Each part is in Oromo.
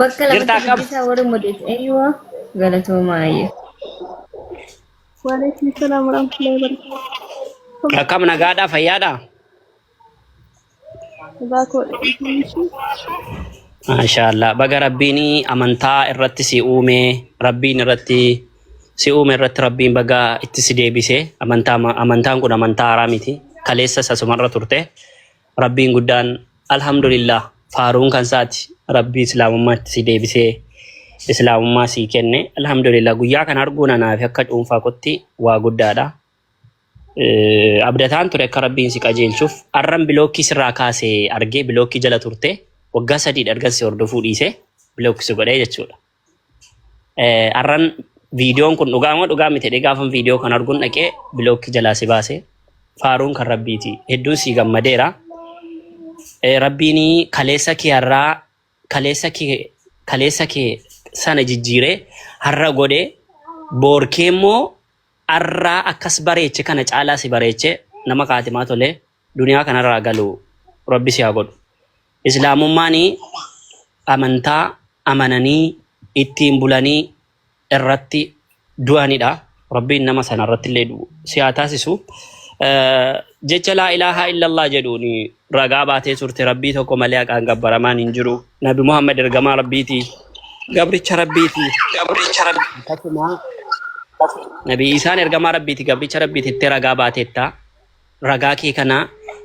Bakka lamatti Jirtaa qab- dubbisaa warri mudeessu. Eeyyuu galatoomaa ayya. Waalaikum salaam warahmatullahi wabarakatuh. Akkam nagaadhaa fayyaadhaa? Dhugaa koo dhiyeessu. Maashaallah baga rabbiin amantaa irratti si uume rabbiin irratti si uume irratti rabbiin baga itti si deebise amantaa amantaan kun amantaa haaraa miti kaleessa sasumarra turte Rabbiin guddaan Alhamdulillaah faaruun kan isaati Rabbii Islaamummaatti si deebisee Islaamummaa sii kenne Alhamdulillaah guyyaa kana arguun anaafi akka cuunfaa kotti waa guddaadha. Eh, Abdataan ture akka Rabbiin si qajeelchuuf arran bilookkii sirraa kaase argee bilookkii jala turte waggaa sadiidha ergan si hordofuu dhiise bilookki si godhee jechuudha. Eh, Arran viidiyoon kun dhugaa moo dhugaa miti jedhee gaafan viidiyoo kan arguun dhaqee bilookki jalaa si baase. Faaruun kan rabbiiti. Hedduun sii gammadeera. Eh, Rabbiin kaleessa kee har'aa kaleessa kee kaleessa kee sana jijjiiree har'a godhe boorkee immoo har'aa akkas bareeche kana caalaa si bareeche nama kaatimaa tolee. duniyaa kanarraa galu rabbi si haa godhu islaamummaani amantaa amananii ittiin bulanii irratti du'anidha rabbiin nama sana irrattillee du'u si haa taasisu Eh, jecha laa ilaaha illallah jedhuun ragaa baatee turte rabbii tokko malee haqaan gabbaramaan hin jiru nabi muhammad ergamaa rabbiiti gabricha rabbiiti gabricha rabbi akkasuma nabi isaan ergamaa rabbiiti gabricha rabbiiti itti ragaa baateetta ragaa kee kana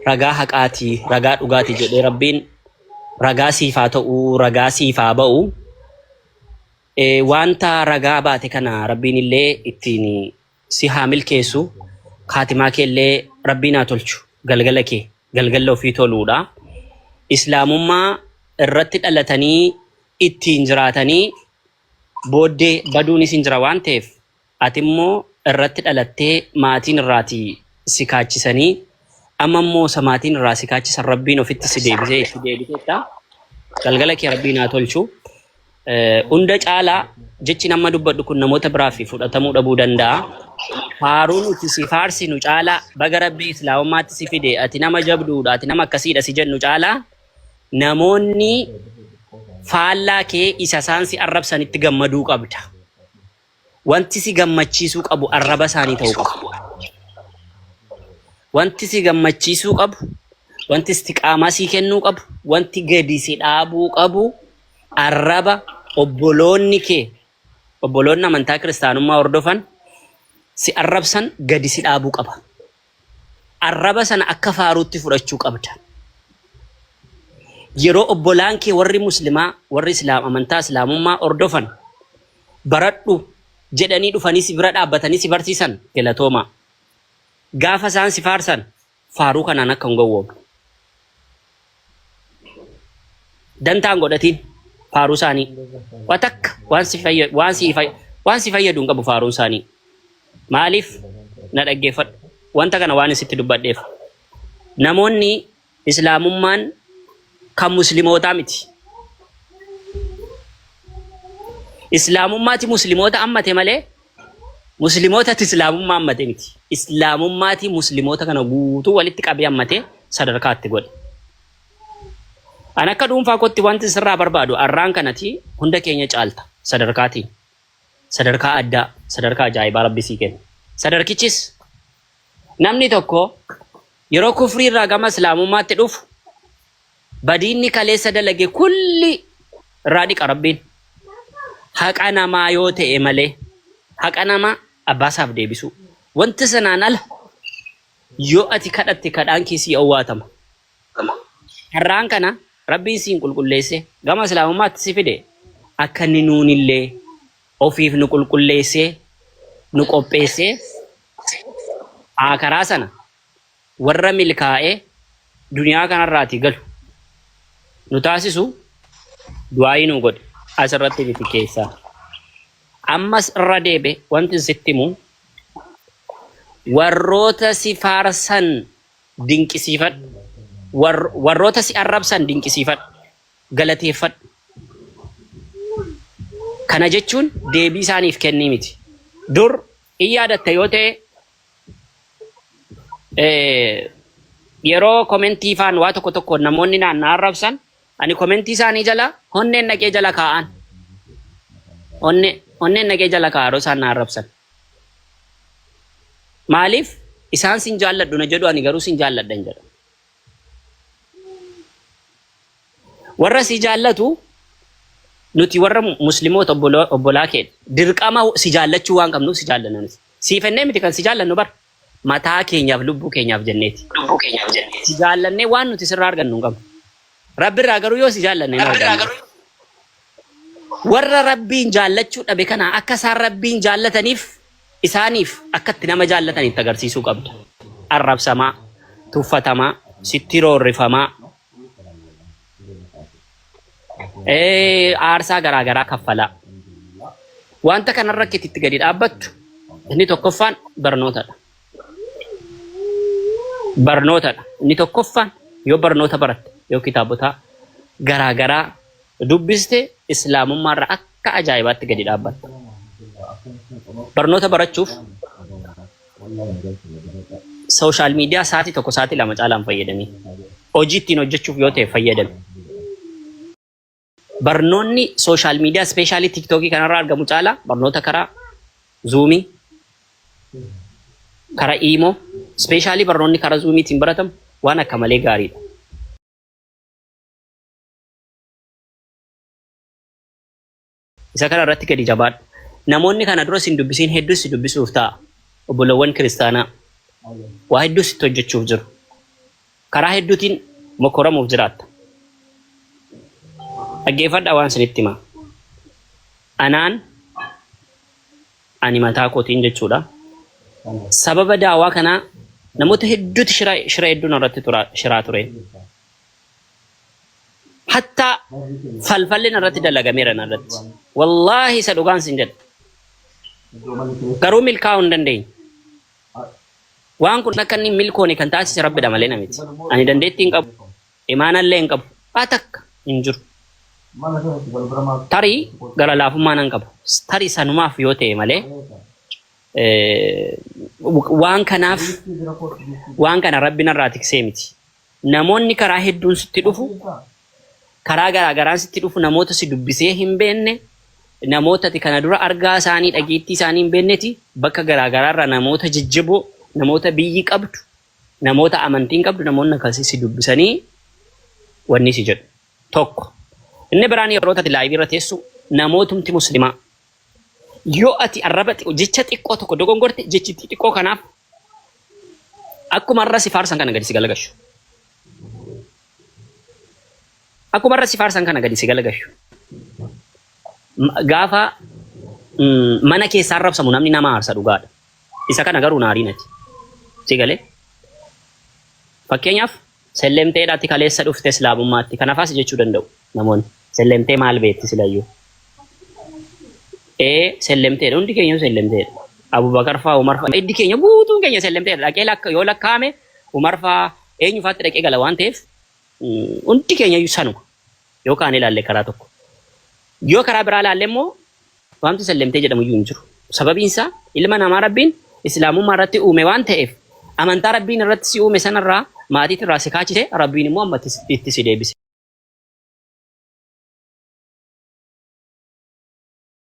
ragaa haqaati ragaa dhugaati jedhee rabbiin ragaa siif haa ta'u ragaa siif haa ba'u Eh, wanta ragaa baate kana rabbiin illee ittiin si haa milkeessu kaatimaa kee illee rabbiin haa tolchu galgala kee galgala ofii toluudha islaamummaa irratti dhalatanii ittiin jiraatanii booddee baduunis hin jira waan ta'eef Ati immoo irratti dhalattee maatiin irraati si kaachisanii amma immoo isa maatiin irraa si kaachisan rabbiin ofitti si deebisee itti deebiteetta galgala kee rabbiin haa tolchu hunda caalaa jechi nama dubbadhu kun namoota biraaf fudhatamuu dhabuu danda'a faaruun itti si faarsinu caalaa baga rabbii islaamummaatti si fide ati nama jabduudha ati nama akkasiidha si jennu caalaa namoonni faallaa kee isa isaan si arrabsanitti gammaduu qabda. Wanti si gammachiisuu qabu arraba isaanii ta'uu qaba. Wanti si gammachiisuu qabu, wanti istiqaamaa sii kennuu qabu, wanti gadi si dhaabuu qabu arraba obboloonni kee, obboloonni amantaa kiristaanummaa hordofan si arrabsan gadi si dhaabuu qaba. Arraba sana akka faaruutti fudhachuu qabda. Yeroo obbolaan kee warri Muslimaa, warri Islaam, amantaa Islaamummaa hordofan baradhu jedhanii dhufanii si bira dhaabbatanii si barsiisan galatoomaa. Gaafa isaan si faarsan faaruu kanaan akka hin gowwoomne. dantaa hin godhatiin faaruu isaanii wa takka waan si fayya- waan si fay- waan si fayyadu hin qabu faaruun isaanii maaliif na dhaggeeffadhu wanta kana waan isitti dubbadheef namoonni islaamummaan kan muslimootaa miti islaamummaati muslimoota ammate malee Muslimootatti Islaamummaa hammate miti. Islaamummaati Muslimoota kana guutuu walitti qabee hammatee sadarkaa itti godhe. An akka dhuunfaa kootti wanti sirraa barbaadu arraan kanati hunda keenya caalta sadarkaatiin. Sadarkaa addaa, sadarkaa ajaa'ibaa rabbi sii kenna. Sadarkichis namni tokko yeroo kufrii irraa gama Islaamummaatti dhufu Badii inni kaleessa dalage kulli irraa dhiqa Rabbiin. Haqa namaa yoo ta'e malee haqa namaa abbaa isaaf deebisuu. Wanti sanaan ala yoo ati kadhatte kadhaan kee sii owwaatama. Carraan kana Rabbiin siin qulqulleessee gama Islaamummaatti si fide akka inni nuunillee ofiif nu qulqulleessee nu qopheessee aakaraa sana warra milkaa'ee duniyaa kanarraatii galu nu taasisu du'aayii nuu godhi asirratti miti keessaa ammas irra deebe wanti sitti himu warroota si faarsan dinqisiifadhu War- warroota si arrabsan dinqisiifadhu galateeffadhu kana jechuun deebii isaaniif kennii miti dur in yaadatta yoo ta'e Eh, yeroo komentii faan waa tokko tokko namoonni naan na arrabsan ani komentii isaanii jala onneen dhaqee jala kaa'an onne onneen dhaqee jala kaa'an yeroo isaan na arrabsan maaliif isaan sin jaalladhu na jedhu ani garuu sin jaalladha hin jedhu warra si jaallatu nuti warra muslimoota obboloo- obbolaa keenya dirqama si jaallachuu waan qabnuuf si jaallanan Siif hennee miti kan si jaallannu bar. Mataa keenyaaf lubbuu keenyaaf jenneeti. Si jaallannee waan nuti sirraa argannu hin qabnu. Rabbirraa garuu yoo si jaallanne hin argannu. Warra Rabbiin jaallachuu dhabe kana akka isaan Rabbiin jaallataniif isaaniif akka itti nama jaallatan itti agarsiisuu qabda. Arrabsamaa, tuffatamaa, sitti roorrifamaa, Eh, aarsaa garaa garaa kaffalaa. Wanta kanarra akka itti gadi dhaabbattu inni tokkoffaan barnootadha. Barnootadha. Inni tokkoffaan yoo barnoota baratte yoo kitaabotaa garaa garaa dubbiste islaamummaarra akka ajaa'ibaatti gadi dhaabbatta. Barnoota barachuuf Sooshaal miidiyaa sa'aatii tokko sa'aatii lama caalaan fayyadamii hojii ittiin hojjechuuf yoo ta'e fayyadami. Barnoonni sooshaal miidiyaa ispeeshaalii tiiktookii kanarraa argamu caalaa barnoota karaa zuumii, karaa iimoo, ispeeshaalii barnoonni karaa zuumiitiin baratamu waan akka malee gaariidha. Isa kana irratti gadi jabaadhu. Namoonni kana dura sin dubbisiin hedduun si dubbisuuf ta'a. Obbolowwan kiristaanaa waa hedduu sitti hojjechuuf jiru. Karaa hedduutiin mokkoramuuf jiraatta. Dhaggeeffadhaa waan sinitti hima. Anaan ani mataa kootiin jechuudha. Sababa daawaa kanaa namoota hedduuti shira shira hedduun irratti tura shiraa ture. hatta falfalli narratti dalagameera narratti wallaahi isa dhugaan sin jedha garuu milkaa'uu hin dandeenye waan kun akka inni milkoone kan taasise rabbidha malee namiti ani dandeettii hin qabu imaanallee hin qabu waa takka hin jiru tarii gara laafummaa nan qabu tarii sanumaaf yoo ta'e malee waan kanaaf waan kana rabbi narraa tiksee miti Namoonni karaa hedduun sitti dhufu, karaa garaa garaan sitti dhufu, namoota si dubbisee hin beekne, namoota ati kana dura argaa isaanii, dhageettii isaanii hin beekneti, bakka garaa garaa irraa namoota jajjaboo, namoota biyyi qabdu, namoota amantiin qabdu, namoonni akkasii si dubbisanii wanni si jedhu. Tokko. Inni biraan yeroo ati laayivii irra teessu namootumti muslimaa. Yoo ati arraba xiqqoo, jecha xiqqoo tokko dogongorte, jechi xixiqqoo kanaaf akkuma arra si faarsan kana gadi si galagashu. Akkuma arra si faarsan kana gadi si galagashu. M- Gaafa mm, mana keessaa arrabsamu namni nama aarsa dhugaadha. Isa kana garuu naariin ati. Si galee? Fakkeenyaaf Sellemteedha ati kaleessa dhufte islaamummaatti kanafaa si jechuu danda'u namoonni sellemtee maal beekti silayyuu ee sellemteedha hundi keenya sellemteedha abubakar faa umar faa iddi keenya guutuun keenya sellemteedha dhaqee lakka yoo lakkaa'ame umar faa eenyu faatti dhaqee gala waan ta'eef mm, hundi keenya iyyuu sanuma yoo kaan ilaalle karaa tokko yoo karaa biraa ilaalle immoo Wanti sallimtee jedhamuyyuu hin jiru. Sababiin isaa ilma namaa Rabbiin Islaamummaa irratti uume waan ta'eef amantaa Rabbiin irratti si uume sanarraa maatiitti irraa si kaachise Rabbiin immoo amma itti si deebise.